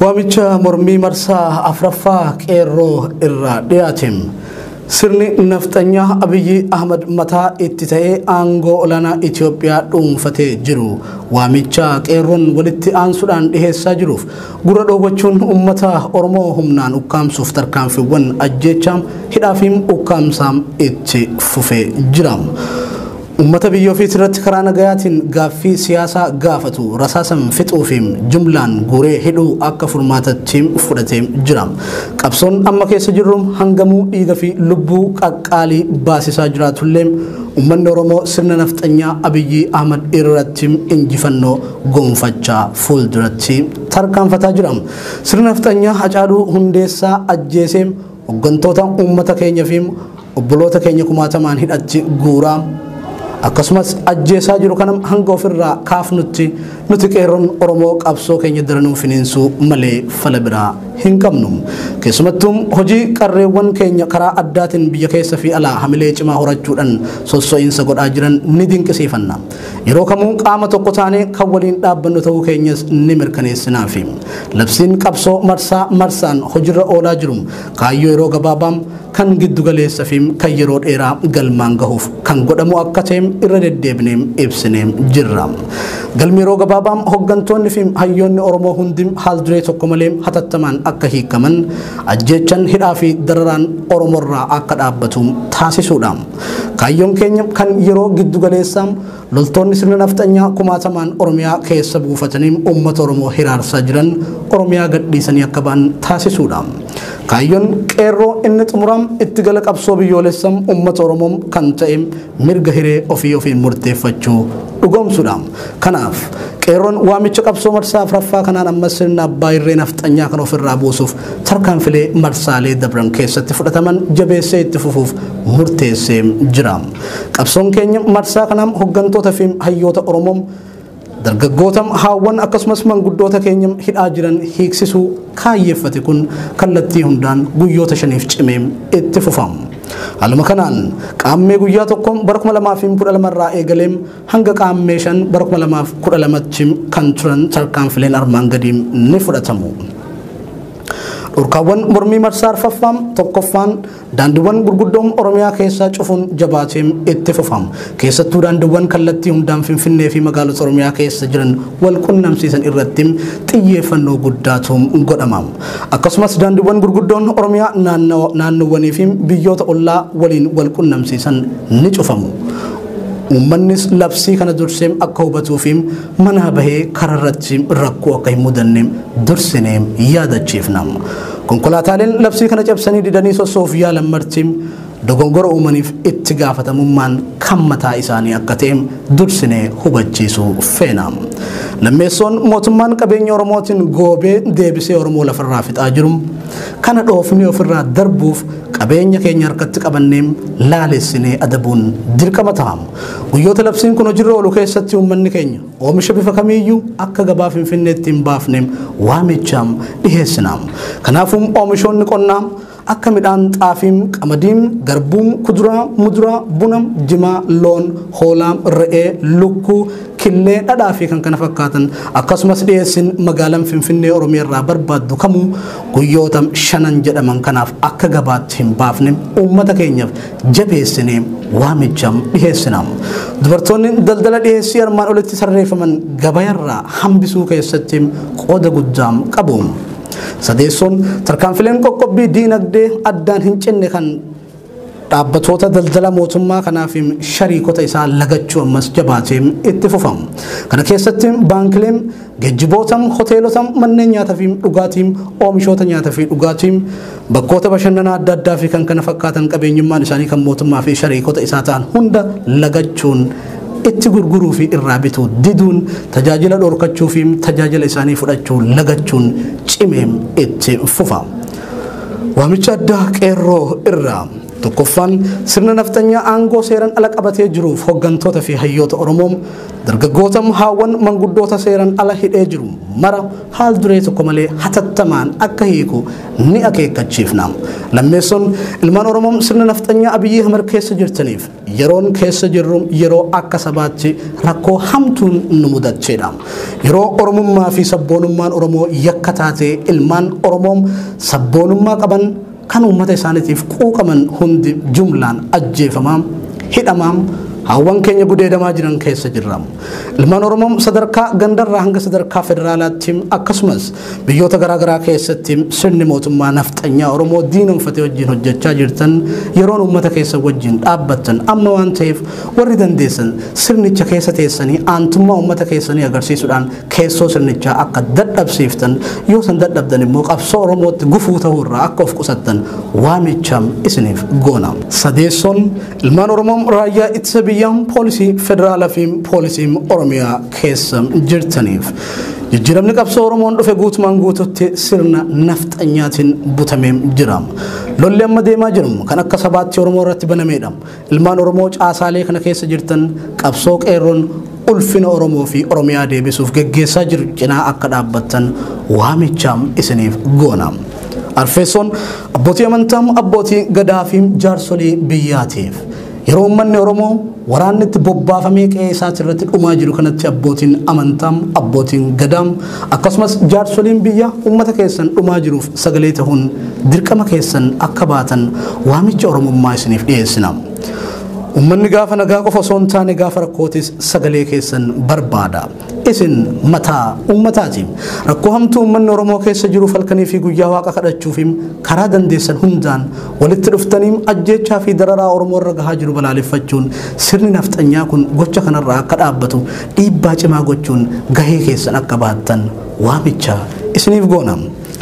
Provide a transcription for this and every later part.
Waamicha mormii marsaa afraffaa qeerroo irraa dhiyaate. Sirni nafxanyaa Abiyyi Ahmad mataa itti ta'ee aangoo olaanaa Itoophiyaa dhuunfatee jiru waamicha qeerroon walitti aansuudhaan dhiheessaa jiruuf gurra dhoowwachuun uummata Oromoo humnaan ukkaamsuuf tarkaanfiiwwan ajjeechaa, hidhaafi ukkaamsaa itti fufee jira. Ummata biyya ofiitirratti karaa nagayaatiin gaaffii siyaasaa gaafatu rasaasan fixuufi jumlaan guuree hidhuu akka furmaatatti fudhatee jira. Qabsoon amma keessa jirru hangamuu dhiiga fi lubbuu qaqqaalii baasisaa jiraatullee ummanni Oromoo sirna nafxanyaa Abiyyii Ahmad irratti injifannoo gonfachaa fuulduratti tarkaanfataa jira. Sirna nafxanyaa Hacaaluu Hundeessaa ajjeesee hoggantoota ummata keenyafi Obboloota keenya kumaatamaan hidhatti guuraa akkasumas ajjeesaa jiru kana hanga ofirraa kaafnutti nuti qeerroon Oromoo qabsoo keenya daranuu finiinsuu malee fala biraa hin qabnu. Keessumattuu hojii qarreewwan keenya karaa addaatiin biyya keessa fi alaa hamilee cimaa horachuudhaan sosso'iinsa godhaa jiran ni dinqisiifanna. Yeroo kamuu qaama tokko taanee kan waliin dhaabbannu ta'uu keenyas ni mirkaneessinaafi. Labsiin qabsoo marsaa marsaan hojiirra oolaa jiru Kaayyoo yeroo gabaabaa, kan giddu galeessa fi kan yeroo dheeraa galmaan gahuuf kan godhamu akka ta'e irra deddeebinee ibsinee jirra. Galmi yeroo gabaabaa hoggantoonni fi hayyoonni Oromoo hundi haal duree tokko malee hatattamaan akka hiikaman, ajjeechan hidhaa fi dararaan Oromorraa akka dhaabbatu taasisuudha. Kaayyoon keenya kan yeroo giddu galeessaa Loltoonni sirna nafxanyaa kumaatamaan Oromiyaa keessa buufatanii uummata Oromoo hiraarsaa jiran Oromiyaa gadhiisanii akka ba'an taasisuudha. Kaayyoon qeerroo inni xumuraa itti gala qabsoo biyyoolessa uummata Oromoo kan ta'e mirga hiree ofii ofiin murteeffachuu dhugoomsuudha. Kanaaf qeerroon waamicha qabsoo marsaa afraffaa kanaan ammas sirna abbaa irree nafxanyaa kan ofirraa buusuuf tarkaanfilee marsaalee dabran keessatti fudhataman jabeessee itti fufuuf murteessee jira. Qabsoon keenya marsaa kanaa hoggantoota fi hayyoota Oromoo dargaggoota haawwan akkasumas manguddoota keenya hidhaa jiran hiiksisuu kaayyeeffate kun kallattii hundaan guyyoota shaniif cimee itti fufa. Haaluma kanaan qaammee guyyaa tokko bara 2012 irraa eegalee hanga qaammee shan bara 2012tti kan turan tarkaanfileen armaan gadii ni fudhatamu. Dhorkaawwan mormii marsaa arfaffaa tokkoffaan Daandiiwwan gurguddoo Oromiyaa keessaa cufuun jabaatee itti fufa. Keessattuu daandiiwwan kallattii hundaan Finfinnee fi magaalota Oromiyaa keessa jiran wal qunnamsiisan irratti xiyyeeffannoo guddaatu godhama. Akkasumas daandiiwwan gurguddoon Oromiyaa naannoowwanii fi biyyoota ollaa waliin wal qunnamsiisan ni cufamu. Uummannis labsii kana dursee akka hubatuu fi manaa bahee karaa irratti rakkoo akka hin mudanne dursinee yaadachiifna. Konkolaataaleen labsii kana cabsanii didanii sossoof yaalan marti dogongora uumaniif itti gaafatamummaan kan mataa isaanii akka ta'e dursinee hubachiisuu feena. Lammeessoon mootummaan qabeenya Oromootiin goobee deebisee Oromoo lafarraa fixaa jiru kana dhoofnee ofirraa darbuuf qabeenya keenya harkatti qabannee laalessinee adabuun dirqama ta'a. Guyyoota labsiin kun hojiirra oolu keessatti uummanni keenya Oomisha bifa kamiiyyuu akka gabaa Finfinneetti hin baafne waamichaam dhiheessinaam. Kanaafuu oomishoonni qonnaa akka midhaan xaafiim, qamadiim, garbuum, kuduraa, muduraa, buna, jimaa, loon, hoolaa, re'ee, lukkuu, killee, dhadhaa fi kan kana fakkaatan akkasumas dhiyeessin magaalaan Finfinnee Oromiyaa irraa barbaaddu kamuu guyyoota shanan jedhaman kanaaf akka gabaatti hin baafne uummata keenyaaf jabeessine waamicha dhiheessina. Dubartoonni daldala dhiheessii armaan olitti tarreeffaman gabayarraa hambisuu keessatti qooda guddaa qabu. Sadeessoon tarkaanfileen qoqqobbii diinagdee addaan hin cinne kan dhaabbatoota daldala mootummaa kanaa fi shariikota isaa lagachuu ammas jabaatee itti fufamu. Kana keessatti baankileen geejjiboota, hoteelota, manneen nyaataa fi dhugaatii, oomishoota nyaataa fi dhugaatii Bakkoota bashannanaa adda addaa fi kan kana fakkaatan qabeenyummaan isaanii kan mootummaa fi shariikota isaa ta'an hunda lagachuun itti gurguruu fi irraa bitu diduun tajaajila dhorkachuu fi tajaajila isaanii fudhachuu lagachuun cimeem itti fufa. Waamicha addaa qeerroo irraa tokkoffaan sirna nafxanyaa aangoo seeran ala qabatee jiruuf hoggantoota fi hayyoota Oromoo dargaggoota haawwan manguddoota seeran ala hidhee jiru mara haal duree tokko malee hatattamaan akka hiiku ni akeekkachiifna. Lammeessoon ilmaan Oromoo sirna nafxanyaa Abiyyi Ahmad keessa jirtaniif yeroon keessa jirru yeroo akka sabaatti rakkoo hamtuun nu mudacheedha. Yeroo Oromummaa fi sabboonummaan Oromoo yakka taatee ilmaan Oromoo sabboonummaa qaban Kan uummata isaanitiif quuqaman hundi jumlaan ajjeefamaa, hidhamaa, haawwan keenya gudeedamaa jiran keessa jirra. Ilmaan Oromoo sadarkaa gandarraa hanga sadarkaa federaalaatti akkasumas biyyoota garaa garaa keessatti sirni mootummaa nafxanyaa Oromoo diinomfate wajjin hojjechaa jirtan yeroon uummata keessa wajjin dhaabbattan amma waan ta'eef warri dandeessan sirnicha keessa teessanii aantummaa uummata keessanii agarsiisuudhaan keessoo sirnichaa akka dadhabsiiftan yoo san dadhabdan immoo qabsoo Oromootti gufuu ta'uu irraa akka of qusattan waamicha isiniif goona. Sadeessoon ilmaan Oromoo raayyaa ittisa biyyaa poolisii federaalaa fi poolisii Oromiyaa keessa jirtaniif jijjiiramni qabsoo Oromoon dhufe guutumaan guututti sirna nafxanyaatiin butamee jira. Lolli amma deemaa jiru kan akka sabaatti Oromoo irratti banameedha. Ilmaan Oromoo caasaalee kana keessa jirtan qabsoo qeerroon ulfina Oromoo fi Oromiyaa deebisuuf geggeessaa jiru cinaa akka dhaabbattan waamichaam isiniif goona. Arfeessoon abbootii amantaa, abbootii gadaa fi jaarsolii biyyaatiif yeroo uummanni Oromoo waraanni itti bobbaafamee qe'ee isaati irratti dhumaa jiru kanatti abbootiin amantaa, abbootiin gadaa, Akkasumas jaarsoliin biyya ummata keessan dhumaa jiruuf sagalee tahuun dirqama keessan akka baatan waamicha Oromummaa isiniif dhiyeessina. Ummanni gaafa nagaa qofa osoo hin taane gaafa rakkootis sagalee keessan barbaada. Isin mataa ummataati. Rakkoo hamtuu ummanni Oromoo keessa jiruuf halkanii fi guyyaa waaqa kadhachuuf karaa dandeessan hundaan walitti dhuftanii ajjeechaa fi dararaa Oromoo irra gahaa jiru balaaleffachuun sirni nafxanyaa kun gocha kanarraa akka dhaabbatu dhiibbaa cimaa gochuun gahee keessan akka baattan waamicha isiniif goona.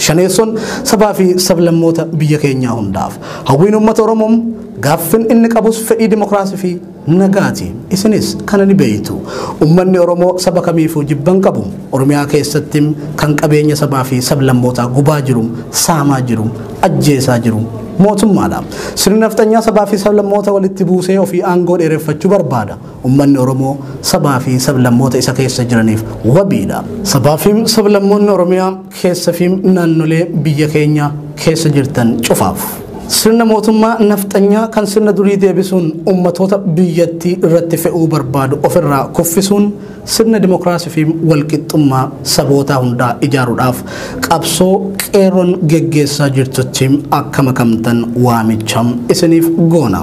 Shaneessoon sabaa fi sablammoota biyya keenyaa hundaaf. Hawwiin uummata Oromoo gaaffin inni qabus fedhii dimokiraasii fi nagaati. Isinis kana ni beektu. Uummanni Oromoo saba kamiifuu jibban qabu. Oromiyaa keessatti kan qabeenya sabaa fi sablammootaa gubaa jiru, saamaa jiru, ajjeesaa jiru mootummaadha. Sirni nafxanyaa sabaa fi sablammoota walitti buusee ofii aangoo dheereffachuu barbaada. Ummanni Oromoo sabaa fi sablammoota isa keessa jiraniif wabiidha. Sabaa fi sablammoonni Oromiyaa keessa fi naannolee biyya keenya keessa jirtan cufaaf. Sirna mootummaa nafxanyaa kan sirna durii deebisuun ummatoota biyyattii irratti fe'uu barbaadu ofirraa kuffisuun sirna dimokiraasii fi walqixxummaa sabootaa hundaa ijaaruudhaaf qabsoo qeerroon geggeessaa jirtutti akka makamtan waamicha isiniif goona.